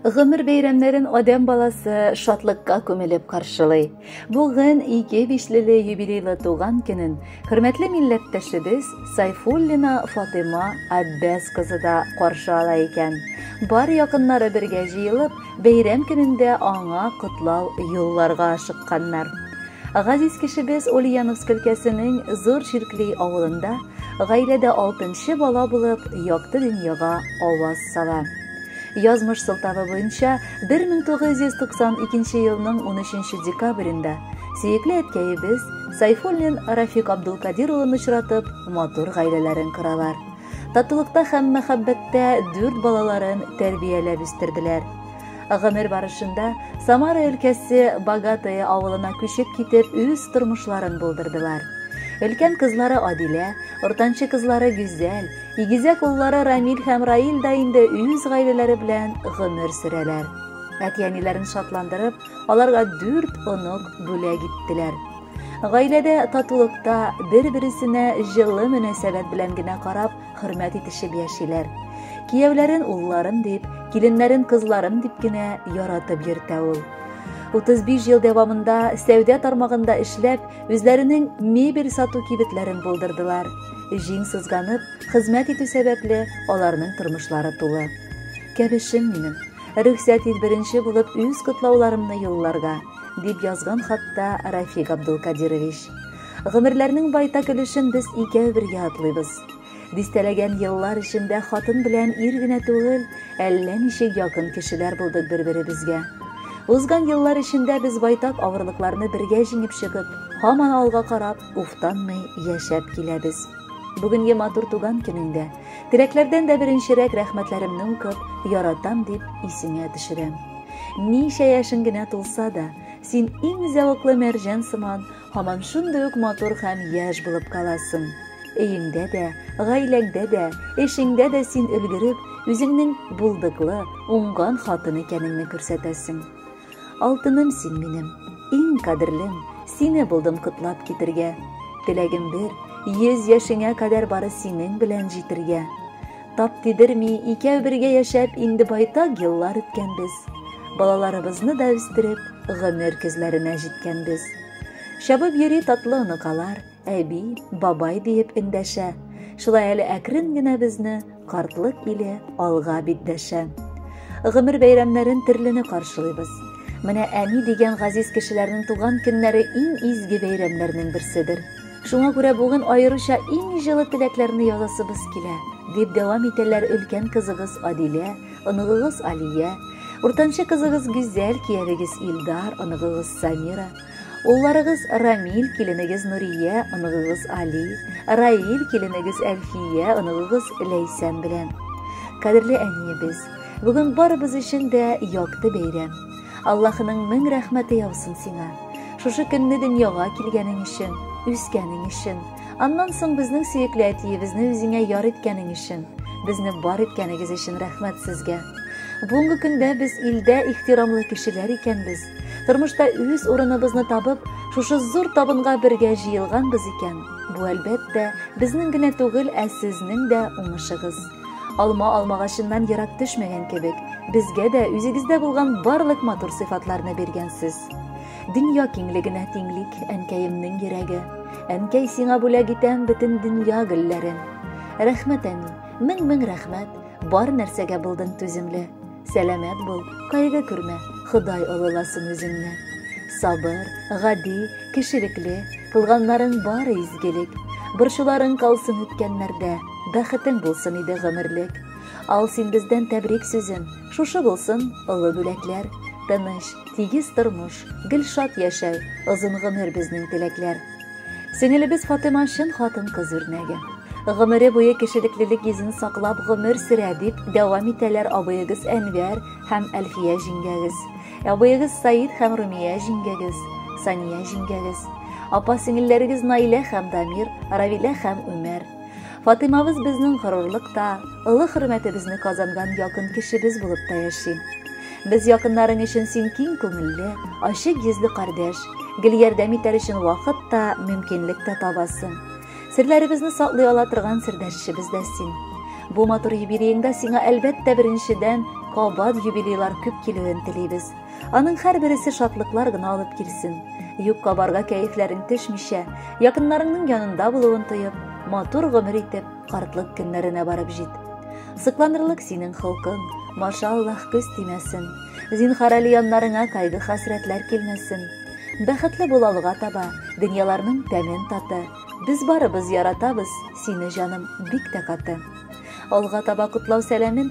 Гомер бәйрәмнәрен адәм баласы шатлыкка күмелеп каршылый. Бүген ике бишлеле юбилейлы туган көнен хөрмәтле милләттәшебез Сайфуллина Фатыма Аббәс кызы да каршы ала икән. Бар якыннары бергә җыелып, бәйрәм көнендә аңа котлау юлларга ашыкканнар. Газиз кешебез Ульяновск өлкәсенең Зур Ширкли авылында гаиләдә алтынчы бала булып, якты дөньяга аваз сала. Язмыш сылтавы буенча 1992 елның 13 декабрендә сөекле әткәебез Сайфуллин Рафик Абдулкадир улын очратып, матур гаиләләрен коралар. Татулыкта һәм мәхәббәттә дүрт балаларын тәрбияләп үстерделәр. Гомер барышында Самара өлкәсе Богатое авылына күчеп китеп, үз тормышларын булдырдылар. Өлкән кызлары Адилә, уртанчы кызлары Гүзәл, Игезәк уллары Рамил һәм Раил да инде үз гаиләләре белән гомер сөрәләр. Әти-әниләрен шатландырып, аларга дүрт онок бүләк иттеләр. Гаиләдә татулыкта, бер-бересенә җылы мөнәсәбәт белән генә карап, хөрмәт итешеп яшиләр. Кияүләрен улларым дип, киленнәрен кызларым дип кенә яратып йөртә ул. 35 ел дәвамында сәүдә тармагында эшләп, үзләренең мебель сату кибетләрен булдырдылар. Җиң сызганып, хезмәт итү сәбәпле, аларның тормышлары тулы. Кәбешем минем, рөхсәт ит беренче булып үз котлауларымны юлларга, дип язган хатта Рафик Абдулкадирович. Гомерләрнең байтак өлешен без икәү бергә атлыйбыз. Дистәләгән еллар эчендә хатын белән ир генә түгел, әллә ничек якын кешеләр булдык бер-беребезгә. Узган еллар эчендә без байтак авырлыкларны бергә җиңеп чыгып, һаман алга карап, уфтанмый яшәп киләбез. Бүгенге матур туган көнеңдә теләкләрдән дә беренчерәк рәхмәтләремне укып, яратам дип исеңә төшерәм. Ничә яшең генә тулса да, син иң зәвыклы мәрҗән сыман, һаман шундый ук матур һәм яшь булып каласың. Өеңдә дә, гаиләңдә дә, эшеңдә дә син өлгереп, үзеңнең булдыклы, уңган хатын икәнеңне күрсәтәсең. Алтыным син минем, иң кадерлем, сине булдым котлап китергә. Теләгем бер, йөз яшеңә кадәр бары синең белән җитергә. Тап тидерми, икәү бергә яшәп, инде байтак еллар үткәнбез. Балаларыбызны да үстереп, гомер көзләренә җиткәнбез. Чабып йөри татлы оныкалар, Әби, бабай диеп эндәшә. Шулай әле әкрен генә безне картлык иле алга бит дәшә. Гомер бәйрәмнәрен терлене каршылыйбыз. Менә әни дигән газиз кешеләрнең туган көннәре иң изге бәйрәмнәрнең берседер. Шуңа күрә бүген аеруча иң җылы теләкләрне язасыбыз килә, дип дәвам итәләр өлкән кызыгыз Адилә, оныгыгыз Алия, уртанчы кызыгыз Гүзәл, киявегез Илдар, оныгыгыз Самира. Улларыгыз Рамил, киленегез Нурия, оныгыгыз Али, Раил, киленегез Әлфия, оныгыгыз Ләйсән белән. Кадерле әниебез, бүген барыбыз өчен дә якты бәйрәм. Аллаһының мең рәхмәте яусын сиңа. Шушы көнне дөньяга килгәнең өчен, үскәнең өчен, аннан соң безнең сөекле әтиебезне үзеңә яр иткәнең өчен, безне бар иткәнегез өчен рәхмәт сезгә. Бүгенге көндә без илдә ихтирамлы кешеләр икәнбез. Тормышта үз урыныбызны табып, шушы зур табынга бергә җыелганбыз икән, бу әлбәттә безнең генә түгел, ә сезнең дә уңышыгыз. Алма алмагачыннан ерак төшмәгән кебек, безгә дә үзегездә булган барлык матур сыйфатларны биргәнсез. Дөнья киңлегенә тиңлик, әнкәемнең йөрәге. Әнкәй сиңа бүләк итәм бөтен дөнья гөлләрен. Рәхмәт, әни, мең-мең рәхмәт, бар нәрсәгә булдың түземле. Сәламәт бул, кайгы күрмә, Ходай олыласын үзеңне. Сабыр, гади, кешелекле, кылганнарың бары изгелек. Борчуларың калсын үткәннәрдә, бәхетең булсын иде гомерлек. Ал син бездән тәбрик сүзен, шушы булсын олы бүләкләр. Тыныч, тигез тормыш, гел шат яшәү, озын гомер безнең теләкләр. Сеңелебез Фатыйма чын хатын-кыз үрнәге. Гомере буе кешелеклелек йөзен саклап гомер сөрә, дип дәвам итәләр абыегыз Әнвәр һәм Әлфия җиңгәгез. Абыегыз Саид һәм Румия җиңгәгез, Сания җиңгәгез. Апа-сеңелләрегез Наилә һәм Дамир, Равилә һәм Үмәр. Фатыймабыз безнең горурлык та, олы хөрмәтебезне казанган якын кешебез булып та яши. Без якыннарың өчен син киң күңелле, ачык йөзле кардәш, гел ярдәм итәр өчен вакыт та, мөмкинлек тә табасың. Серләребезне саклый ала торган сердәшчебез дә син. Бу матур юбилееңда сиңа әлбәттә беренчедән кабат юбилейлар күп килүен телибез. Аның һәрбересе шатлыклар гына алып килсен. Юкка барга кәефләрең төшмичә, якыннарыңның янында булуын тоеп, матур гомер итеп, картлык көннәренә барып җит. Сыкланырлык синең холкың, машаллах көз тимәсен. Зинхар әле яннарыңа кайгы хәсрәтләр килмәсен. Бәхетле бул алга таба, дөньяларның тәмен таты. Без барыбыз яратабыз, сине җаным бик тә каты. Алга таба котлау сәламен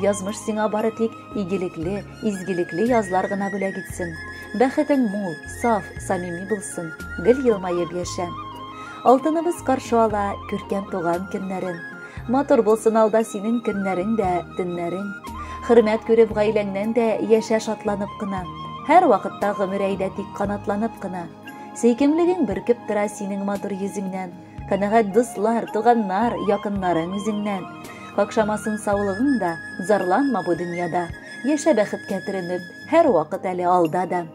Язмыш сиңа бары тик игелекле, изгелекле язлар гына бүләк итсен. Бәхетең мул, саф, самими булсын. Гел елмаеп яшә. Алтыныбыз каршы ала күркәм туган көннәрен. Матур булсын алда синең көннәрең дә, төннәрең. Хөрмәт күреп гаиләңнән дә яшә шатланып кына. Һәр вакытта гомер әйдә тик канатланып кына. Сөйкемлеген бөркеп тора синең матур йөзеңнән. Канәгать дуслар, туганнар, якыннарың үзеңнән. Какшамасын саулыгың да, зарланма бу дөньяда. Яшә бәхеткә төренеп, һәр вакыт әле алда да.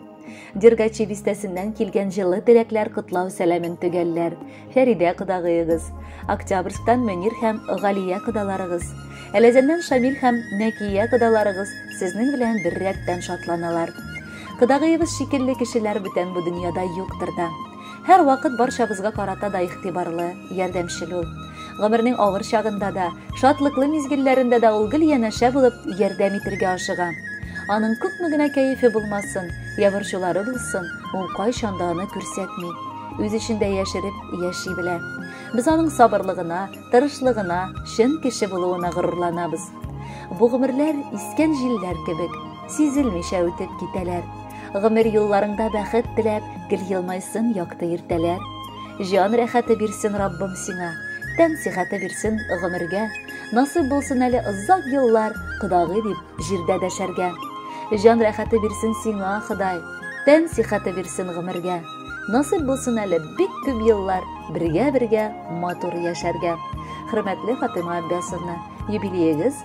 Дергачи бистәсеннән килгән җылы теләкләр котлау сәламен төгәлләр. Фәридә кодагыегыз, Октябрьсктан Мөнир һәм Галия кодаларыгыз, Әләзәннән Шамил һәм Нәкия кодаларыгыз сезнең белән бер рәттән шатланалар. Кодагыегыз шикелле кешеләр бүтән бу дөньяда юктыр да. Һәрвакыт барчабызга карата да игътибарлы, ярдәмчел ул. Гомернең авыр чагында да, шатлыклы мизгелләрендә дә ул гел янәшә булып, ярдәм итергә ашыга. Аның күпме генә кәефе булмасын, я борчулары булсын, ул кайчан да аны күрсәтми. Үз эчендә яшереп яши белә. Без аның сабырлыгына, тырышлыгына, чын кеше булуына горурланабыз. Бу гомерләр искән җилләр кебек, Сизелмичә үтеп китәләр. Гомер юлларыңда бәхет теләп, гел елмайсын якты иртәләр. Җан рәхәте бирсен Раббым сиңа, тән сихәте бирсен гомергә. Насыйп булсын әле озак еллар, кодагый дип җирдә дәшәргә. Җан рәхәте бирсен сиңа, Ходай, тән сихәте бирсен гомергә. Насыйп булсын әле бик күп еллар бергә-бергә матур яшәргә. Хөрмәтле Фатыйма Аббясовна, юбилеегыз